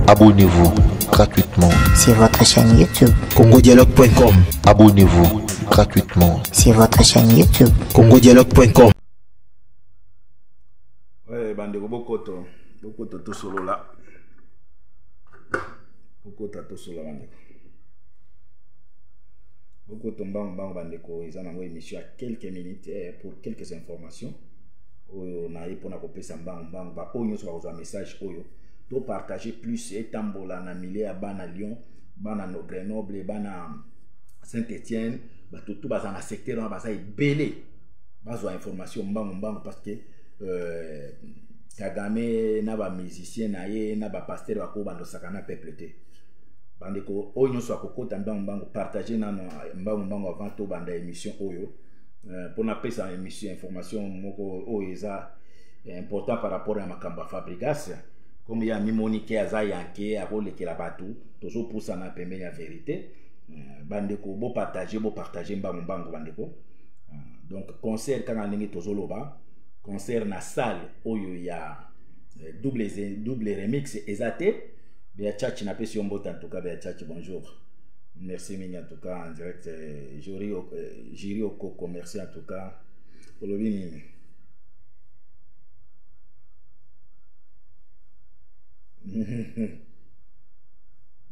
Abonnez-vous gratuitement sur votre chaîne YouTube congodialogue.com. Abonnez-vous gratuitement sur votre chaîne YouTube congodialogue.com. Ouais, bandeko bokoto, bokoto to solo là. Bokoto to solo bandeko. Bokoto mbango mbango bandeko eza nango émission à quelques minutes eh, pour quelques informations oyo naye mpona kopesa mbango mbango baoyo nyonso bakozwa message oyo to partage plus etambola na milieu ya bana lyon bana no grenoble bana saint etienne bato tu baza na secteur wana baza ebele bazwa information mbangu mbangu parce que euh, kagame na bamusicien na ye na bapaster bakoki bandosaka na peuple te bandeko oyo nyonso akokota mbangu mbangu partage nano mbangu mbangu avant tobanda émission oyo mpo euh, napesa émission information moko oyo eza ya important par rapport ya makambo ya fabrigas comme ye amimoni ke aza yanke akolekela bato tozopusana pembeni ya verité euh, bandeko bopartage bopartage mbangu mbangu bandeko euh, donc concert kaka ndenge tozoloba concert na salle oyo ya euh, double, double remix eza te bea chachi napesi yo mbote antuka bea chachi bonjour merci mingi antuka en direct juri okoko merci antuka olobi nini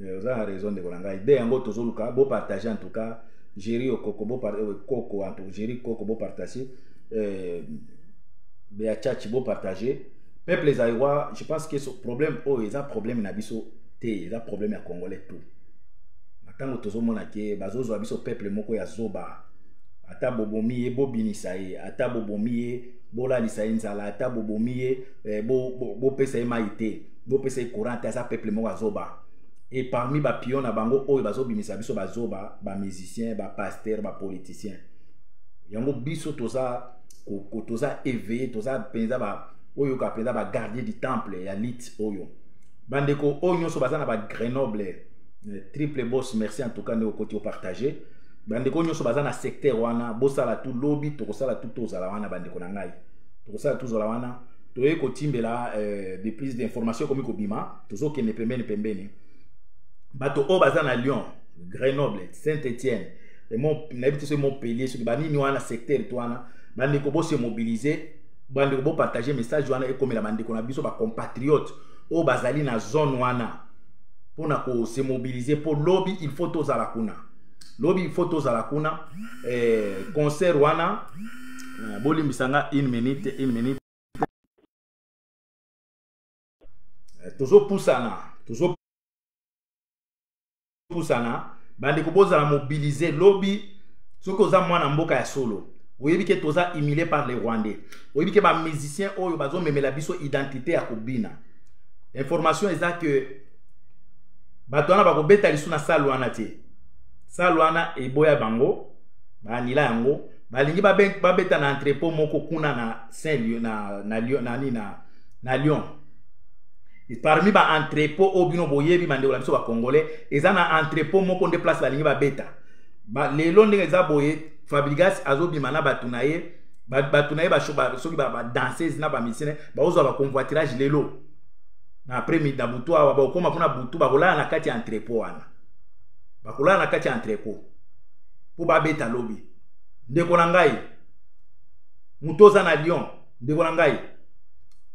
eh, oza na raison ndeko na ngai ide yango tozoluka bopartage en tout cas géri okoko euh, koko en tout géri koko bopartage euh, beachachi bopartage peuple zaïrois je pense que problème oyo oh, eza problème na biso te eza problème ya congolais tout na ntango tozomona ke bazozwa biso peuple moko ya zoba ata bobomi ye bobimisa ye ata bobomi ye bolalisa ye nzala ata bobomi ye eh, bopesa ye mai te bopesa ye courant te aza peuple moko azoba e parmi bapion na bango oyo bazobimisa biso bazoba bamusicien bapaster bapoliticien yango biso toza toza éveillé toza mpenza oyo ka mpenza bagardien du temple ya lite oyo bandeko oyo nyonso baza na bagrenoble eh, triple boss merci en tout cas nde okoti opartage bandeko nyonso baza na secteur wana bosala tu lobi tokosala tu tozala wana bandeko na ngai tokosala tozala wana toyei kotimbela euh, de plus d'information ekomi kobima tozokende pembeni pembeni bato oyo baza na lyon grenoble saint étienne nayebi te soki montpellier soki banini wana secteur to wana bandeko bose mobilize bandeko bopartage message wana ekomela bandeko na biso bacompatriote oyo bazali na zone wana mpo na kosemobilize mpo lobi il faut tozala kuna lobi il faut tozala kuna eh, concert wana eh, bolimbisa nga une minute une minute eh, tozopusana tozopusana bandeko bozala mobilize lobi soki oza mwana mboka ya solo oyebi ke toza humilié par les rwandais oyebi ke bamusicien oyo bazomemela biso identité ya kobina information eza que bato wana bakobeta lisu na sale wana te sale wana eboya bango baanila yango balingi babeta na entrepot moko kuna na saint lieu na, na, na, na, na, na lyon parmi ba entrepot oyo bino boyebi bandeko na biso bacongolais eza na entrepot moko nde place balingi babeta ba, lelo ndenge eza boye fabrigas azobima na bato na ye bato na ye soki badanseuse na bamisine baozwa baconvoitirage lelo na après midi na butu awa bakokoma kuna butu bakolala na kati ya entrepot wana bakolala na kati ya entrepot mpo babeta lobi ndeko na ngai moto oza na lyon ndeko na ngai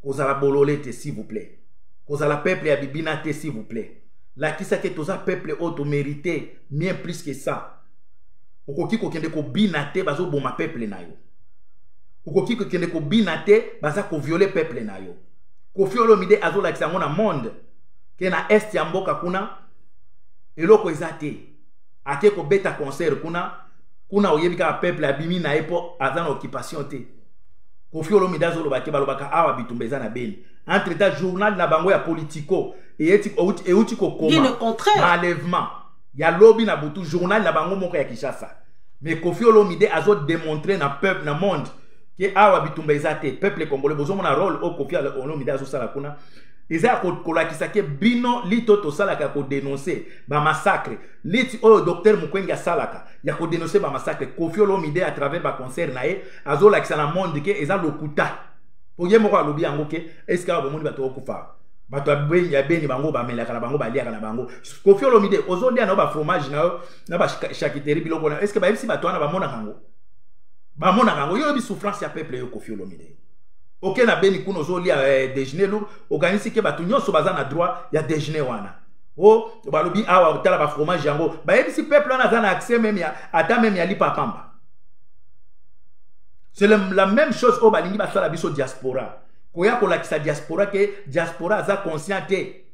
kozala bolole te s'il vous plaît kozala peuple ya bibina te s'il vous plaît lakisa ke toza peuple oyo tomerite bien plus que ça okoki kokende kobina te bazoboma peuple na yo okoki kokende kobina te baza koviole peuple na yo kofi olomide azolakisa yango na monde ke na est ya mboka kuna eloko eza te ake kobeta concert kuna kuna oyebi kaka peuple abimi na ye mpo aza na occupation te kofi olomide azoloba te balobaka awa bitumba eza na beni entre ta journal na bango ya politico euti kokoma malèvement ya lobi na butu journal na bango moko ya kinshasa mais kofi olomide azodemontre na peuple na monde ke awa bitumba eza te peuple congolais bozomona role oyo kofi olomide azosala kuna eza ya kolakisa ke bino lite oyo tosalaka ya kodenonse bamassacre lite oyo docteur mokwenge asalaka ya kodenonse bamassacre kofi olomide à travers baconcert na ye azolakisa na monde ke eza lokuta po ye moko alobi yango ke eske awa bomoni bato okufa bato ya beni bango bamelaka na bango baliaka na bango kofi olomide ozolia na yo bafromage na yo na bachakiteri biloko na yo eske bayebisi bato wana bamonaka yango bamonaka yango yo oyebi souffrance ya peuple yo kofi olomide oke na beni kuna ozolia eh, dejeuner lour okanisi ke bato nyonso baza na droit ya dejeuner wana o oh, balobi awa otala bafromage yango bayebisi peuple wana aza na accès meme ya ata meme ya lipa pamba c'est la même chose oyo balingi basala biso diaspora koya kolakisa diaspora ke diaspora aza conscient te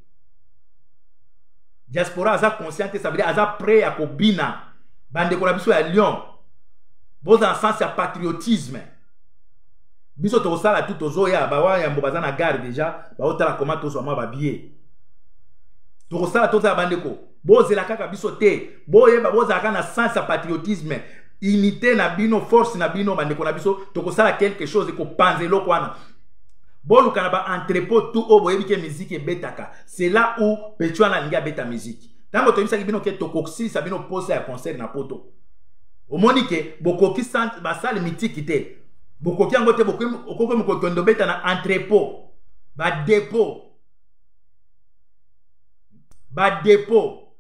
diaspora aza conscient te ça veut dire aza prêt ya kobina bandeko na biso ya lyon boza na sens ya patriotisme biso tokosala tu tozoya bawa yambo baza na gare deja baotala koma tozwa mwa babie tokosala tozala bandeko bozela kaka biso te boyeba bozalaka na sens ya patriotisme unité na bino force na bino bandeko na biso tokosala quelque chose ekopanza eloko wana boluka na baentrepot tout oyo boyebi ke miziki ebetaka c'est là où petuana alingi abeta miziki ntango toyebisaki bino ke tokosilisa bino mposa ya concert na poto omoni ke bokoki basale mitiki te bokoki yango te okoki mokokende obeta na entrepot badepot badepot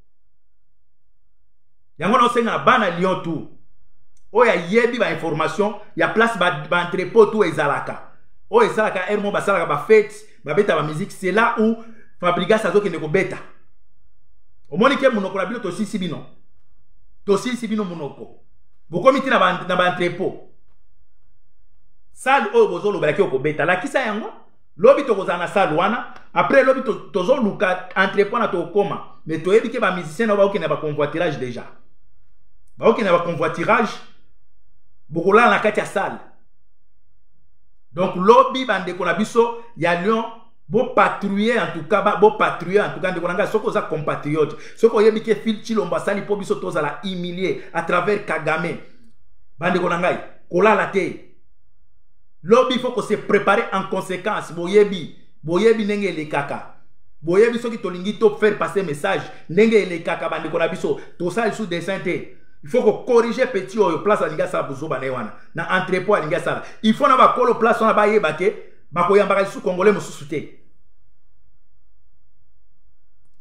yango naosenga na bana lyon tour oyo ayebi bainformation ya place baentrepot ba to ezalaka oyo esalaka heure moko basalaka bafete babeta bamiziki c'est là où fabrigas azokende kobeta omoni ke monoko na bino tosilisi bino tosilisi bino monoko bokomi ti na baentrepot ba sale oyo bozolobelaki okobeta lakisa yango lobi tokozala na salle wana après lobi tozoluka entrepot na tokokoma mais toyebi ke bamusicien na baokende na baconvoitirage déjà baokende na baconvoitirage bokolala na kati ya salle donc lobi bandeko na biso ya lion bopatrouille en tout cas bopatrouille en tout cas ndeko na ngai soki oza compatriote soki oyebi ke fil chilombo asali mpo biso tozala humilie à travers kagame bandeko na ngai kolala te lobi il faut ko se préparer en conséquence boyebi boyebi ndenge elekaka boyebi soki tolingi to faire passer message ndenge elekaka bandeko na biso tosala lisusu dessin te il faut kocorrige petit oyo place alingi asala bozoba na ye wana na entrepot alingi asala il faut na bakolo place wana bayeba ke bakoyambaka lisusu congolais mosusu te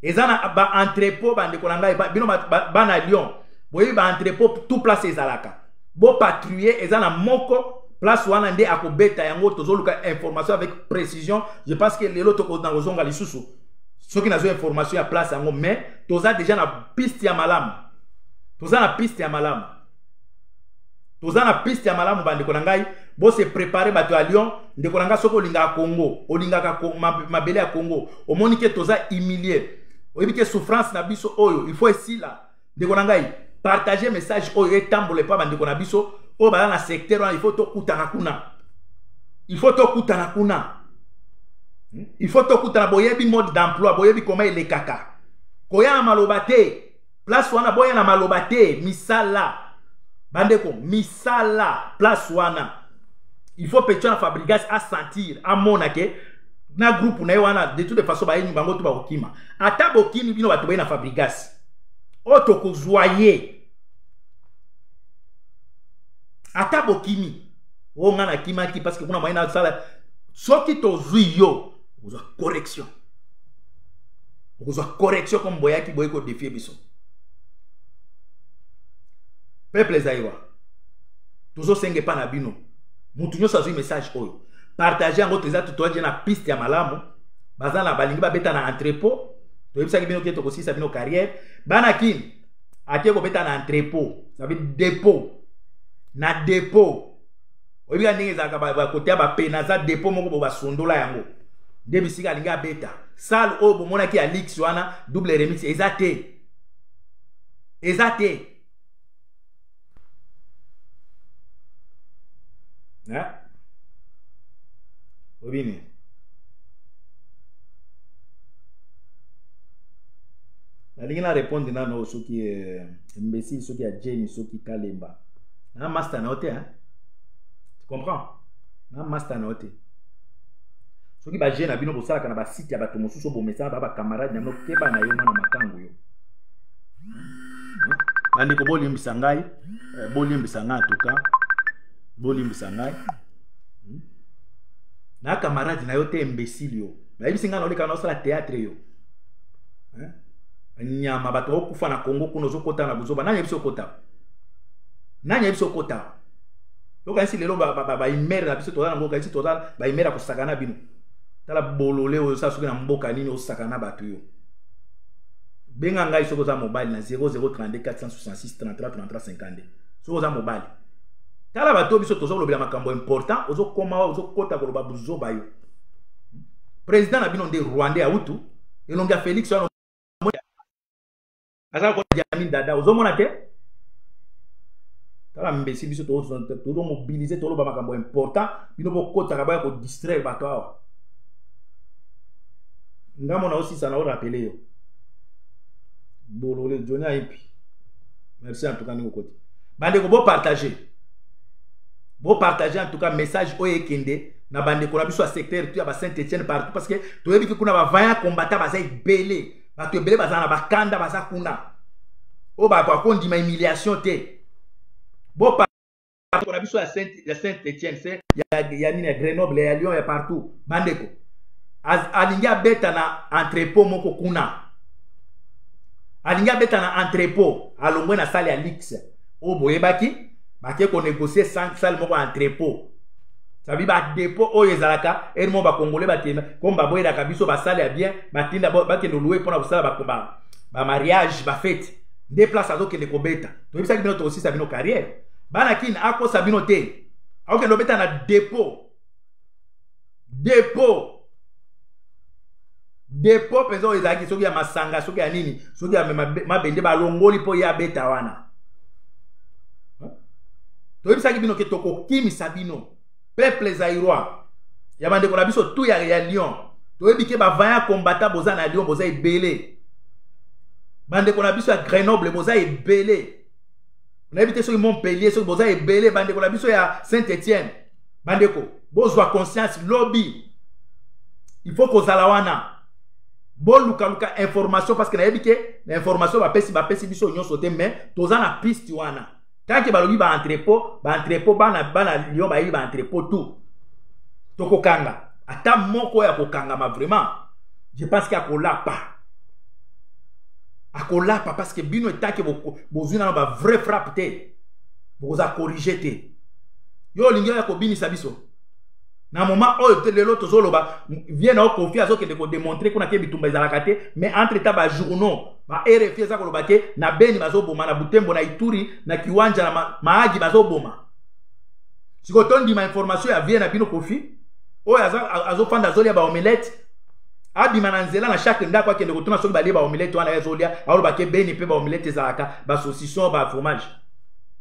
eza na baentrepot bandeko na ngai bino bana lyon boyebi baentrepot tout place ezalaka bo patrouiller eza na moko place wana nde akobeta yango tozoluka information avec précision je pense que lelo tokozonga kozonga lisusu soki nazwa information ya place yango mais toza déjà na piste ya malamu toza na piste ya malamu toza na piste ya malamu bandeko na ngai bose prépare bato ya lyon ndeko na ngai soki olingaka congo olingaka mabele ya congo omoni ke toza humilie oyebi ke souffrance na biso oyo il faut esila ndeko na ngai partage message oyo etambola epa bandeko na biso oyo baza na secteur wana il faut tokutana kuna il faut tokutana kuna hmm? il faut tokutana boyebi mode d'emploi boyebi koma elekaka koya na maloba te place wana boya na maloba te misala bandeko misala place wana il faut petion ya fabrigas asentir amona ke na groupe na ye wana de toute façon bayengi bango to bakokima ata bokimi bino bato baye na fabrigas oyo tokozwa ye ata bokimi oyo oh, ngai nakimaki parce que kuna moyen nasala soki tozwi yo okozwa correction okozwa correction comme boyaki boyei kodefie biso peuple zaïrois tozosenga epa na bino motu nyonso azwi message oyo partage yango toza totoaje na piste ya malamu baza na balingi babeta na entrepot toyebisaki bino ke tokosilisa bino carrière bana kin ake kobeta na entrepot sabi depot na depot oyebika ndenge ezalaka bakote ya bape naza depot moko bo basundola yango nde bisika alingi abeta sale oyo bomonaki ya lix wana double remix eza te eza te hein obini nalingi na répondre nano soki eh, imbécile soki ya jeni soki kalemba na master na yo te hein tu comprends na master na yo te soki baje na bino bosalaka na basite ya bato mosusu bomesana ba bacamarade na bino keba na yo mwana makango yo bandeko bolimbisa ngai eh, bolimbisa ngai antuka bolimbisa ngai hmm? na camarade na yo te imbécile yo nayebisi ngai naoleka naosala théâtre yo eh? nyama bato bakokufa na congo kuna ozokota na buzoba nani yebisi okota nani yebisi okota okanisi lelo baimere na biso toza nango okanisi toza baimere ya kosakana bino tala bolole oyo osala soki na mboka nini osakana bato yo benga ngai soki oza mobali na 0032 466 33 33 52 soki oza mobali tala bato biso toza kolobela makambo important ozokoma wa ozokota koloba buzoba yo président na bino nde rwandais autu elongi ya félix wana aza lokola diamin dada ozomona te tala mbesi biso tozomobilize toloba makambo important bino bokotaka baya kodistraire bato awa nga mona osisa na orapele yo bolole joni ayebi merci en tout cas ndenge okoti bandeko bopartage bopartage en tout cas message oyo ekende na bandeko na biso ya secteur tu ya ba saint etienne partout parce que toyebi ke kuna bavaya combattant baza ebele bato ebele baza na bakanda baza kuna oyo bakondima humiliation te bopa bandeko na biso ya saint, ya saint etienne se ya, ya nini ya grenoble ya lyon ya partout bandeko alingi abeta na entrepot moko kuna alingi abeta na entrepot alongwe na sale ya luxe oyo boyebaki bake konegocie sale moko ya entrepot sabi badepo oyo ezalaka eri moko bakongole bakenda comme baboyelaka biso basale ya bien batinda bakende olue mpo na kosala bamariage bafeti nde place azokende kobeta toyebisaki bino tokosisa bino carrière bana kin akosa bino te akokende obeta na depo depo depo mpenza oyo ezalaki soki ya masanga soki ya nini soki ya mabende balongoli mpo ye abeta wana toyebisaki bino ke tokokimisa bino peuple zairois ya bandeko na biso tu ya, ya lyon toyebi ke bavaya kombata boza na lyon boza ebele bandeko na biso ya grenoble boza ebele nayebi te soki montpellier soki boza ebele bandeko na biso ya saint etienne bandeko bozwa conscience lobi il faut kozala wana bolukaluka information parce que nayebi ke na information bapesi bapesi biso nyonso te mais toza na piste wana tanke balobi baentrepot baentrepot bana bana lyon bayebi baentrepot tout tokokanga ata moko ya kokangama vraiment je pense ke akolapa akolapa parce que bino etake bozwi nano ba vrai frappe te bokoza corrige te yo olingi oya kobinisa biso na moment oyo te lelo tozoloba vie na yo kofi azokende kodemontre kuna te bitumba ezalaka te mais entre temps bajournaux ba rfi eza koloba te na beni bazoboma na butembo na ituri na kiwanja na maagi bazoboma sikoyo tondima information ya vie na bino kofi oyo azofanda azolia baomelete abima na nzela na chaque ndako akende kotuna soki balie baomelete wana ye azolia aoloba ke beni mpe baomelete ezalaka basaucisson bafromage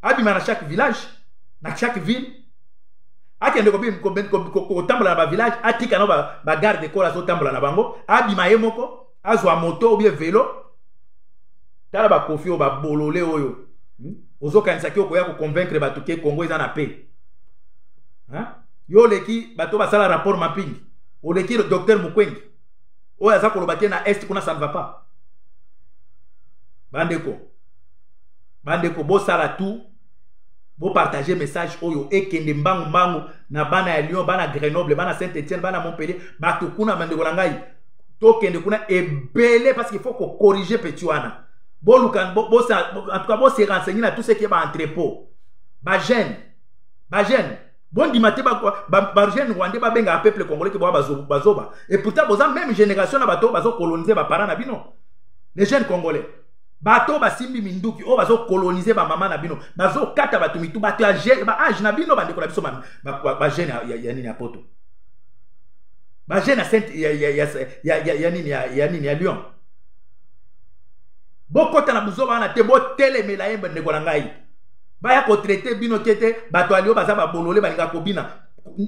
abima na chaque village na chaque ville akende kotambola na bavillage atika na bagarde corps azotambola na bango abima ye moko azwa moto obie velo tala bakofi oyo babolole oyo hmm? ozokanisa ki okoya koconvaincre bato ke congo eza na pe yo oleki bato basala rapport mapping oleki docteur mukwengi oyo aza koloba te na est kuna ça ne va pas bandeko bandeko bosala tout bopartage message oyo ekende mbangu mbangu na bana ya lyon bana grenoble bana saint etienne bana montpellier bato kuna bandeko na ngai tokende kuna ebele parce qu'il faut kocorrige petit wana boluka bo, bo, en tout cas bose renseigner na tout ce qui est baentrepôt bagene bagene bondima te bagene rwandais babengaka peuple congolais ke boa bazoba et pourtant boza même génération na bato bazokolonize bapara na bino les jeunes congolais bato basimbi minduki oyo bazokolonize bamama na bino bazokata bato mitu bato ya baage na bino bandeko na biso bajeune ya nini ya poto bajeune ya nini ya nini ya lyon bokota na buzoba wana te botelemela ye bandeko na ngai baya kotraite bino te te bato ya lyo baza babolole balingaka kobina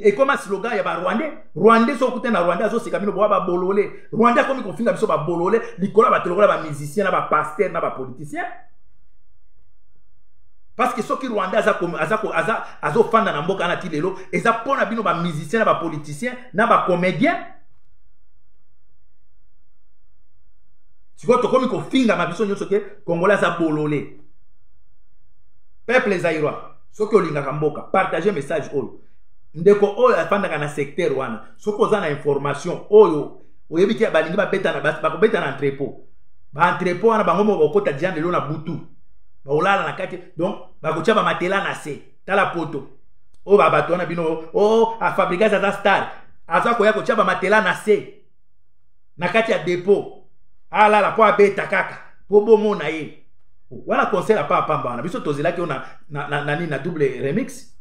ekoma slogan ya barwandais rwandais soki okute na rwandais azoseka bino boa babolole rwandais akomi kofinga biso babolole likolo ya bato lokola bamusicien na bapaster na bapoliticien parce que soki rwandais azofanda na mboka wana ti lelo eza mpo na bino bamusicien na bapoliticien na bacomédien sikoyo tokomi kofingama biso nyonso ke kongola aza bolole peuple zairois soki olingaka mboka partage message oyo ndeko oyo afandaka na secteur wana soki oza na information oyo oyebi te balingi babetana bakobeta na entrepot baentrepot wana bango moko bakokota dia lelo na butu bakolala na kati donc bakotya bamatela na se tala poto oyo babato wana bino o oh, afabrigas aza star aza koya kotya bamatela na se na kati ya depo alala mpo abeta kaka mpo bomona ye wana concert apa apamba wana biso tozelaki yo na, na, na, na, na double remix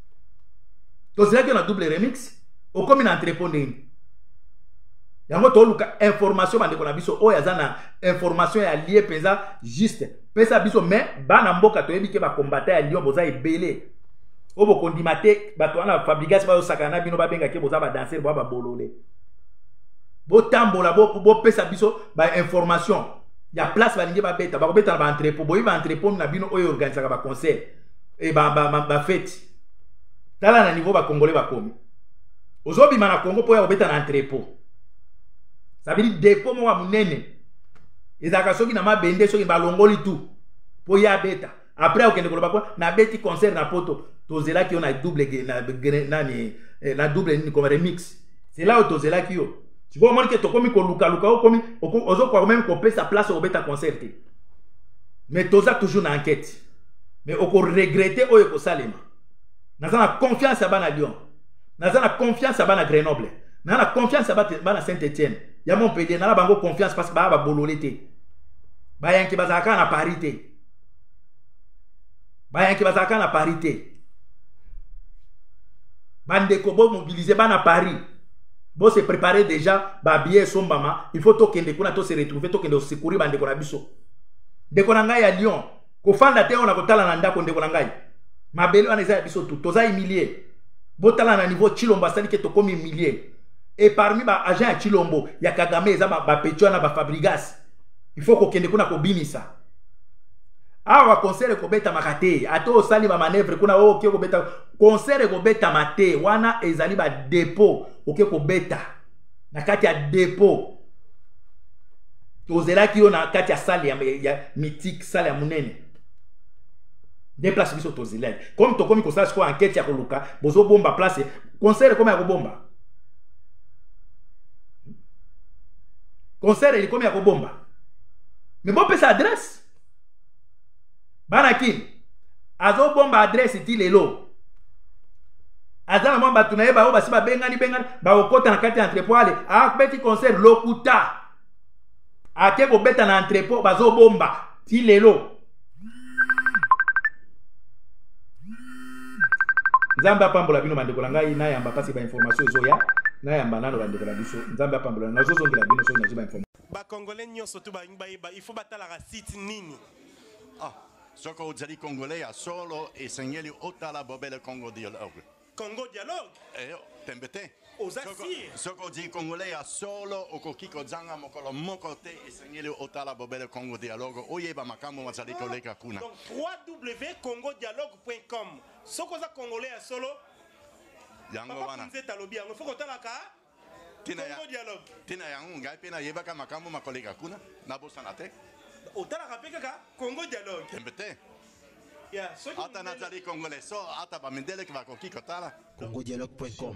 tozelaki yo na double remix okomi na entrepo ndenge yango toluka information bandeko na biso oyo aza na information ya lie mpenza juste pesa biso me bana mboka toyebi ke bakombata ya lion boza ebele oyo bokondima te bato wana fabrigas bayosakana na bino babengaki boza badanser bwa babolole botambola bopesa biso bainformation ya place balingi babeta bakobeta na baentrepot boyebi baentrepot na bino oyo eorganisaka baconcert e bafeti tala na niveau bacongolais bakomi ozobima na congo mpo ya kobeta na entrepot sabili depo moko ya monene ezalaka soki na mabende soki balongoli tu mpo ye abeta après okende koloba kwa nabeti concert na poto tozelaki yo na double na, nani eh, na double nini koma remix c'est là oyo tozelaki yo sikoyo omoni ke tokomi kolukaluka okomi ozokoka meme kopesa place okobeta concert te mais toza toujours na enquête mais okoregrete oyo ekosalema naza na confiance ya bana lyon naza na confiance ya bana grenoble naza na confiance ya bana saint etienne ya montpellier nana bango confiance parce que baya babolole te bayanke bazalaka na paris te bayanke bazalaka na paris te bandeko bomobilize bana paris bose prépare déjà babillet esombama il faut tokende kuna tose retrouve tokende osekuri bandeko na biso ndeko na ngai ya lyon kofanda te oyo na kotala na ndako ndeko na ngai mabele wana eza ya biso tu toza humilie botala na niveau chilombo asali ke tokomi humilie e parmi baagent ya chilombo ya kagame eza bapeti wana bafabrigas il faut kokende kuna kobimisa awa concert ekobetamaka te ata osali bamanevre kuna oyo oh, oke kobeta concert ekobetama te wana ezali badepo oke kobeta na kati ya depo tozelaki yo na kati ya sale ya, ya mythique sale ya monene nde place biso tozelaki comme tokomi kosala sikoyo ankete ya koluka bozobomba place concert ekomi ya kobomba concert elikomi ya kobomba me bopesa adresse bana kin azobomba adresse ti lelo aza na mwa bato na ye baoyo basi babengani bengani bakokota na kati ya entrepot ale abeti concert lokuta ake kobeta na entrepot bazobomba ti lelo nzambe apambola bino bandeko na ngai nayamba mpasi bainformation ezoya nayamba nano bandeko na biso nzambe apambola nazozongela bino soki nazwi bainformation Ba congolais nionso tout balingi bayeba il faut batalaka site nini? Ah, soki ozali congolais ya solo esengeli otala bobele Congo Dialogue. Congo Dialogue? Eh, tembe te. Oza sire? Soki ozali congolais ya solo okoki kozanga mokolo moko te esengeli otala bobele Congo Dialogue oyeba makambo mazali koleka kuna. Donc www.congodialogue.com soki oza congolais ya solo yango wana. Papa Kunzeta alobi yango il faut kotalaka tina ya tina yango ngai mpe nayebaka makambo makoleka kuna nabosana te otalaka mpe kaka congo dialogue tembe te ata nazali congolais so ata bamindeleki bakoki kotala congodialogue.com